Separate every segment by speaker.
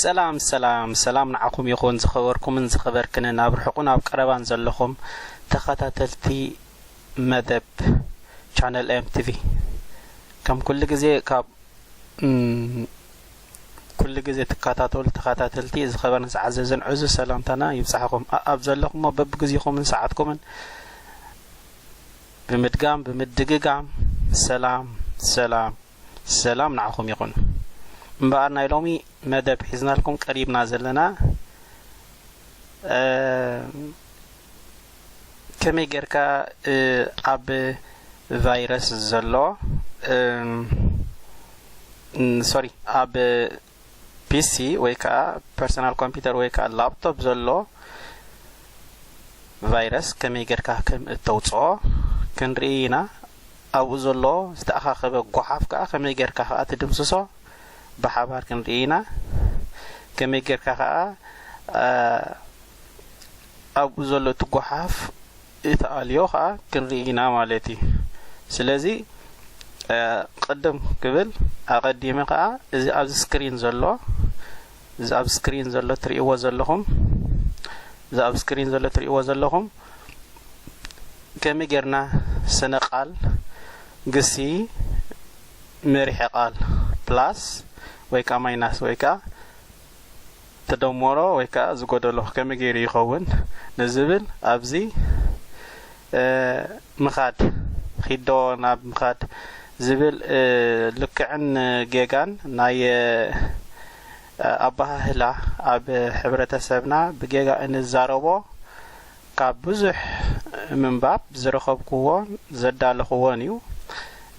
Speaker 1: ሰላም ሰላም ሰላም ንዓኹም ይኹን ዝኸበርኩምን ዝኸበርክንን ኣብ ርሑቕን ኣብ ቀረባን ዘለኹም ተኸታተልቲ መደብ ቻነል ኤም ቲቪ ከም ኩሉ ግዜ ካብ ኩሉ ግዜ ትካታተሉ ተኻታተልቲ ዝኸበርን ዝዓዘዝን ዕዙዝ ሰላምታና ይብጻሕኹም ኣኣብ ዘለኹሞ በብግዚኹምን ሰዓትኩምን ብምድጋም ብምድግጋም ሰላም ሰላም ሰላም ንዓኹም ይኹን እምበኣር ናይ ሎሚ መደብ ሒዝናልኩም ቀሪብና ዘለና ከመይ ጌርካ ኣብ ቫይረስ ዘሎ ሶሪ ኣብ ፒሲ ወይ ከዓ ፐርሰናል ኮምፒውተር ወይ ከዓ ላፕቶፕ ዘሎ ቫይረስ ከመይ ጌርካ ከም እተውፅኦ ክንርኢ ኢና ኣብኡ ዘሎ ዝተኣኻኸበ ጓሓፍ ከዓ ከመይ ጌርካ ከዓ ትድምስሶ ብሓባር ክንርኢ ኢና ከመይ ጌርካ ከዓ ኣብኡ ዘሎ እቲ ጓሓፍ እቲ ኣልዮ ከዓ ክንርኢ ኢና ማለት እዩ ስለዚ ቅድም ክብል ኣቐዲመ ከዓ እዚ ኣብዚ ስክሪን ዘሎ እዚ ኣብ ስክሪን ዘሎ ትርእይዎ ዘለኹም እዚ ኣብ ስክሪን ዘሎ ትርእይዎ ዘለኹም ከመይ ጌርና ስነ ቃል ግሲ መሪሐ ቃል ፕላስ ወይ ከዓ ማይናስ ወይ ከዓ ትደሞሮ ወይ ከኣ ዝጎደሎ ከመይ ገይሩ ይኸውን ንዝብል ኣብዚ ምኻድ ኺዶ ናብ ምኻድ ዝብል ልክዕን ጌጋን ናይ ኣባሃህላ ኣብ ሕብረተሰብና ብጌጋ እንዛረቦ ካብ ብዙሕ ምንባብ ዝረኸብኩዎን ዘዳለኹዎን እዩ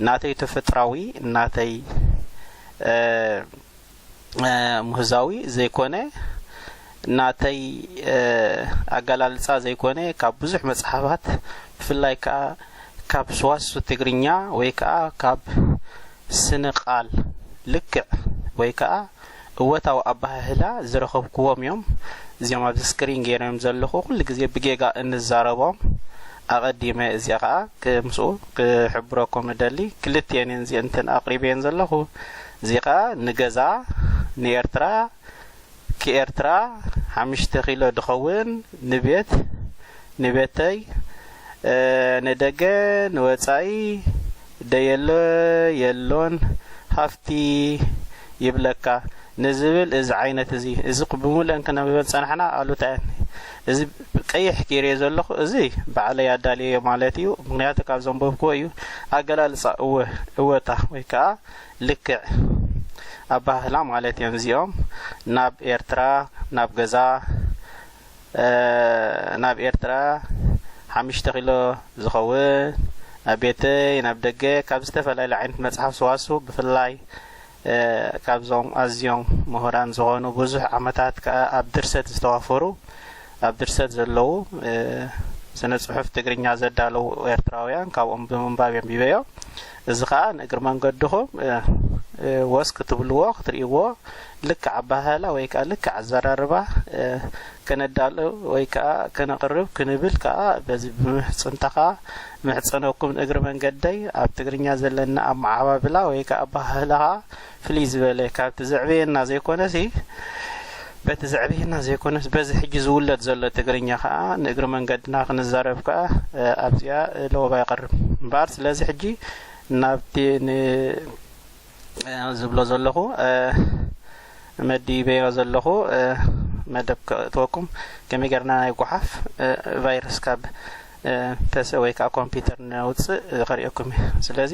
Speaker 1: ናተይ ተፈጥራዊ ናተይ ምህዛዊ ዘይኮነ ናተይ ኣገላልጻ ዘይኮነ ካብ ብዙሕ መጽሓፋት ብፍላይ ከኣ ካብ ስዋሱ ትግርኛ ወይ ከኣ ካብ ስነ ቃል ልክዕ ወይ ከኣ እወታዊ ኣባህህላ ዝረኸብክዎም እዮም እዚኦም ኣብዚ ስክሪን ገይረዮም ዘለኹ ኩሉ ግዜ ብጌጋ እንዛረቦም ኣቐዲመ እዚኣ ከዓ ምስኡ ክሕብረኩም እደሊ ክልትኤን እየን እዚእንትን ኣቕሪበየን ዘለኹ እዚ ከኣ ንገዛ ንኤርትራ ክኤርትራ ሓምሽተ ኪሎ ድከውን ንቤት ንቤተይ ንደገ ንወጻኢ ደየሎ የሎን ሃፍቲ ይብለካ ንዝብል እዚ ዓይነት እዚ እዚ ብሙሉኤን ክነብበን ዝጸናሕና ኣሉታየን እዚ ቀይሕ ጌሬ ዘለኹ እዚ ባዕለይ ኣዳልየዮ ማለት እዩ ምክንያቱ ካብ ዘንበብክዎ እዩ ኣገላልጻ እወ እወታ ወይ ከኣ ልክዕ ኣባህህላ ማለት እዮም እዚኦም ናብ ኤርትራ ናብ ገዛ ናብ ኤርትራ ሓምሽተ ኪሎ ዝኸውን ናብ ቤተይ ናብ ደገ ካብ ዝተፈላለዩ ዓይነት መጽሓፍ ሰዋሱ ብፍላይ ካብዞም ኣዝዮም ምሁራን ዝኾኑ ብዙሕ ዓመታት ከዓ ኣብ ድርሰት ዝተዋፈሩ ኣብ ድርሰት ዘለዉ ስነ ጽሑፍ ትግርኛ ዘዳለዉ ኤርትራውያን ካብኦም ብምንባብ የንቢበዮ እዚ ከኣ ንእግሪ መንገድኹም ወስ ክትብልዎ ክትርእይዎ ልክዕ ኣበሃህላ ወይ ከኣ ልክዕ ኣዘራርባ ከነዳሉ ወይ ከኣ ከነቕርብ ክንብል ከኣ በዚ ብምሕጽንታ ከኣ ምሕጸነኩም ንእግሪ መንገደይ ኣብ ትግርኛ ዘለና ኣመዓባብላ ወይ ከኣ ኣበሃህላ ከኣ ፍልይ ዝበለ ካብቲ ዘዕበየና ዘይኮነሲ በቲ ዘዕበየና ዘይኮነስ በዚ ሕጂ ዝውለድ ዘሎ ትግርኛ ከኣ ንእግሪ መንገድና ክንዛረብ ከኣ ኣብዚኣ ለወባ ይቐርብ እምበኣር ስለዚ ሕጂ ናብቲ ዝብሎ ዘለኹ መዲበዮ ዘለኹ መደብ ክእትወኩም ከመይ ጌርና ናይ ጓሓፍ ቫይረስ ካብ ተሰ ወይ ከዓ ኮምፒውተር ነውፅእ ከሪኦኩም እዩ ስለዚ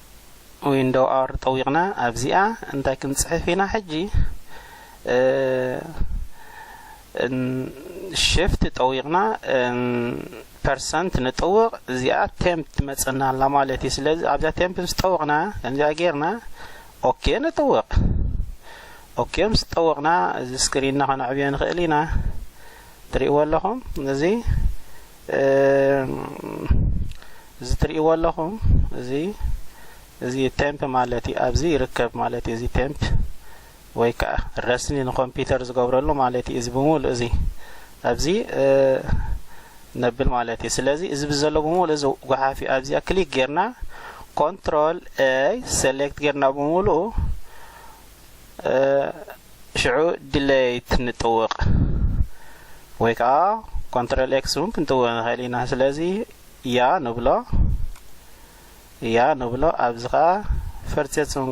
Speaker 1: ዊንዶው ኣር ጠዊቕና ኣብዚኣ እንታይ ክንጽሕፍ ኢና ሕጂ ሽፍት ጠዊቕና ፐርሰንት ንጥውቕ እዚኣ ቴምፕ ትመጽና ኣላ ማለት እዩ ስለዚ ኣብዛ ቴምፕ ምስ ጠወቕና ከምዚኣ ጌርና ኦኬ ንጥውቕ ኦኬ ምስ ጠወቕና እዚ ስክሪንና ከነዕብዮ ንኽእል ኢና ትርእይዎ ኣለኹም እዚ እዚ ትርእይዎ ኣለኹም እዚ እዚ ቴምፕ ማለት እዩ ኣብዚ ይርከብ ማለት እዩ እዚ ቴምፕ ወይ ከዓ ረስኒ ንኮምፒውተር ዝገብረሉ ማለት እዩ እዚ ብምሉእ እዚ ኣብዚ ነብል ማለት እዩ ስለዚ እዚ ብዘሎ ብምሉእ እዚ ጉሓፍ እዩ ኣብዚኣ ክሊክ ጌርና ኮንትሮል ኤይ ሴሌክት ጌርና ብምሉእ ሽዑ ድለይት ንጥውቕ ወይ ከዓ ኮንትሮል ኤክስ እውን ክንጥውቕ ንኽእል ኢና ስለዚ ያ ንብሎ ያ ንብሎ ኣብዚ ከዓ ፈርፅፅም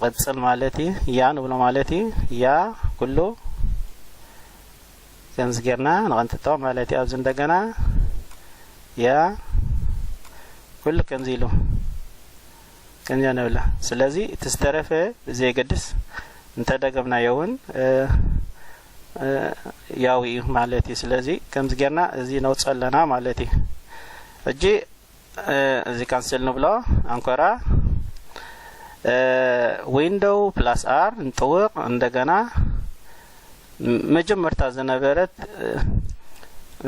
Speaker 1: ቅፅል ማለት እዩ ያ ንብሎ ማለት እዩ ያ ኩሉ ከምዚ ጌርና ንቐንጥጦ ማለት እዩ ኣብዚ እንደገና ያ ኩሉ ከምዚ ኢሉ ከምዚኣ ንብላ ስለዚ እቲ ዝተረፈ ብዘየገድስ እንተደገምናዮ እውን ያው እዩ ማለት እዩ ስለዚ ከምዚ ጌርና እዚ ነውፅ ኣለና ማለት እዩ ሕጂ እዚ ካንስል ንብሎ ኣንኮራ ዊንዶው ፕላስ ኣር ንጥውቕ እንደገና መጀመርታ ዝነበረት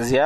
Speaker 1: እዚኣ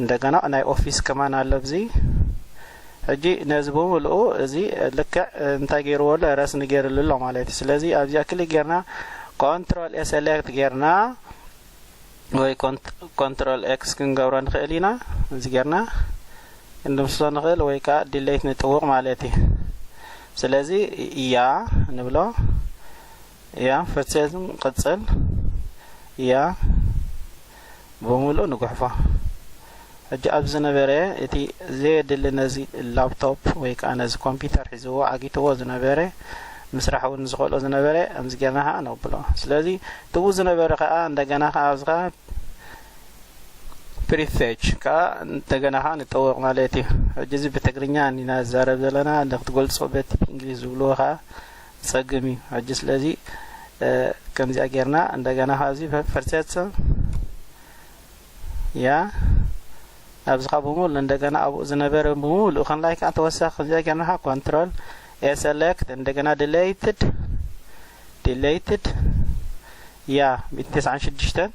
Speaker 1: እንደገና ናይ ኦፊስ ከማን ኣሎ ኣብዚ ሕጂ ነዚ ብምልኡ እዚ ልክዕ እንታይ ገይርዎ ኣሎ ረስኒ ገይርሉ ኣሎ ማለት እዩ ስለዚ ኣብዚኣ ክሊክ ጌርና ኮንትሮል ኤ ሴሌክት ጌርና ወይ ኮንትሮል ኤክስ ክንገብሮ ንኽእል ኢና እዚ ጌርና ክንድምስሶ ንኽእል ወይ ከዓ ዲሌት ንጥውቕ ማለት እዩ ስለዚ እያ ንብሎ እያ ፈርሴዝም ቅፅል እያ ብምሉእ ንጉሕፎ። ሕጂ ኣብዚ ዝነበረ እቲ ዘየድሊ ነዚ ላፕቶፕ ወይ ከኣ ነዚ ኮምፒተር ሒዝዎ ዓጊትዎ ዝነበረ ምስራሕ እውን ዝኸልኦ ዝነበረ ከምዚ ጌርና ከኣ ነብሎ። ስለዚ ትብኡ ዝነበረ ከኣ እንደገና ከኣ ኣብዚ ከኣ ፕሪፌች ከኣ እንደገና ከኣ ንጠወቕ ማለት እዩ። ሕጂ እዚ ብትግርኛ ኢና ንዛረብ ዘለና ንክትገልጾ በቲ ብእንግሊዝ ዝብልዎ ከኣ ጸግም እዩ ሕጂ ስለዚ ከምዚኣ ጌርና እንደገና ካብዚ ፈርሰት ያ ኣብዚ ካብ ብምሉ እንደገና ኣብኡ ዝነበረ ብምሉ ከላይ ከዓ ተወሳኺ ከምዚኣ ጌርና ኮንትሮል ኤሰለክት እንደገና ድሌይትድ ዲሌይትድ ያ ሚእቲ ተስዓን ሽዱሽተን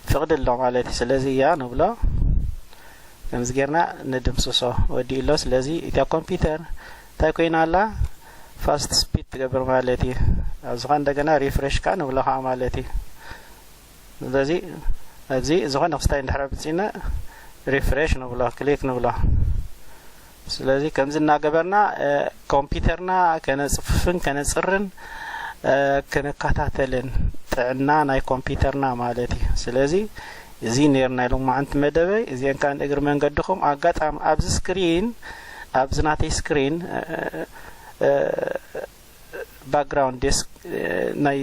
Speaker 1: ፍቕዲ ኣሎ ማለት እዩ ስለዚ እያ ንብሎ ከምዚ ጌርና ንድምስሶ ወዲኡ ኣሎ ስለዚ እታ ኮምፒውተር እንታይ ኮይና ኣላ ፋስት ስፒድ ትገብር ማለት እዩ ኣብዚ ከ እንደገና ሪፍሬሽ ከ ንብሎ ከ ማለት እዩ ስለዚ ኣብዚ ዝኾነ ክስታይ እንድሕር ኣብፅና ሪፍሬሽ ንብሎ ክሊክ ንብሎ ስለዚ ከምዚ እናገበርና ኮምፒተርና ከነፅፍፍን ከነፅርን ክንከታተልን ጥዕና ናይ ኮምፒተርና ማለት እዩ ስለዚ እዚ ነርና ኢሎም መዓንቲ መደበይ እዚአን ከዓ ንእግሪ መንገድኹም ኣጋጣሚ ኣብዚ ስክሪን ኣብዚ ናተይ ስክሪን ባክግራውንድ ዴስክ ናይ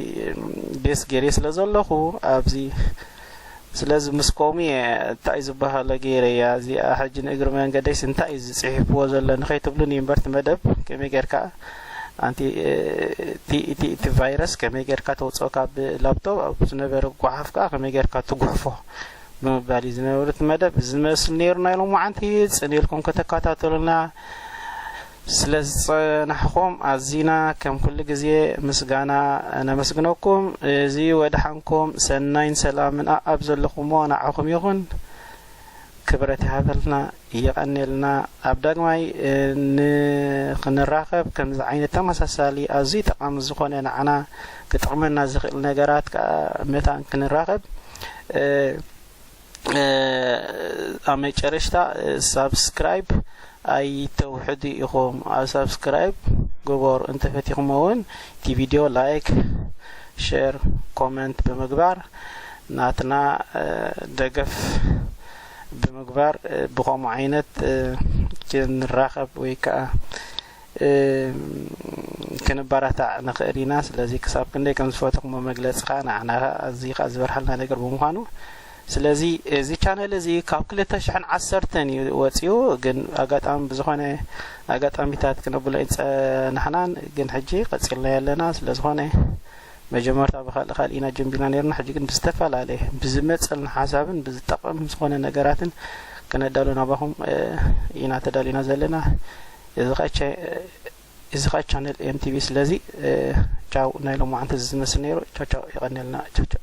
Speaker 1: ዴስክ ገይረ ስለ ዘለኹ ኣብዚ ስለዚ ምስ ኮሙ እየ እንታይ ዝበሃሎ ገይረያ እዚኣ ሕጂ ንእግሪ መንገደይስ እንታይ እዩ ዝፅሒፍዎ ዘሎ ንኸይትብሉን እዩ እምበርቲ መደብ ከመይ ጌርካ ኣንቲ እቲ ቫይረስ ከመይ ጌርካ ተውፅኦ ካብ ላፕቶፕ ኣብ ዝነበረ ጓሓፍ ከዓ ከመይ ጌርካ ትጉሕፎ ብምባል እዩ ዝነበሩ እቲ መደብ ዝመስል ነይሩ ናይ ሎማዓንቲ ጽን ኢልኩም ከተከታተሉና ስለ ዝጸናሕኩም ኣዚና ከም ኩሉ ግዜ ምስጋና ነመስግነኩም እዚ ወድሓንኩም ሰናይን ሰላምን ኣኣብ ዘለኹሞ ንዓኹም ይኹን ክብረት ይሃበልና የቐኔልና ኣብ ዳግማይ ንክንራኸብ ከምዚ ዓይነት ተመሳሳሊ ኣዝዩ ጠቓሚ ዝኾነ ንዓና ክጠቕመና ዝኽእል ነገራት ከኣ መታን ክንራኸብ ኣብ መጨረሽታ ሳብስክራይብ ኣይተውሕዱ ኢኹም ኣብ ሳብስክራይብ ግበሩ እንተፈቲኹሞ እውን እቲ ቪድዮ ላይክ ሼር ኮመንት ብምግባር ናትና ደገፍ ብምግባር ብኸምኡ ዓይነት ክንራኸብ ወይ ከዓ ክንበረታዕ ንኽእል ኢና ስለዚ ክሳብ ክንደይ ከም ዝፈተኹሞ መግለፂ ከዓ ንዓና ከዓ ኣዝዩ ከዓ ዝበርሃልና ነገር ብምዃኑ ስለዚ እዚ ቻነል እዚ ካብ ክልተ ሽሕን ዓሰርተን እዩ ወፂኡ ግን ኣጋጣሚ ብዝኾነ ኣጋጣሚታት ክነብሎ ፀናሕናን ግን ሕጂ ቀፂልና ኣለና ስለዝኾነ መጀመርታ ብካልእ ካልእ ኢና ጀምቢና ነይርና ሕጂ ግን ብዝተፈላለየ ብዝመጸልና ሓሳብን ብዝጠቐም ዝኾነ ነገራትን ክነዳሉ ናባኹም ኢና ተዳሊና ዘለና እዚ ኸ እዚ ኸ ቻነል ኤምቲቪ ስለዚ ቻው ናይ ሎማዓንቲ ዝመስል ነይሩ ቻው ቻው የቐንየልና ቻው ቻው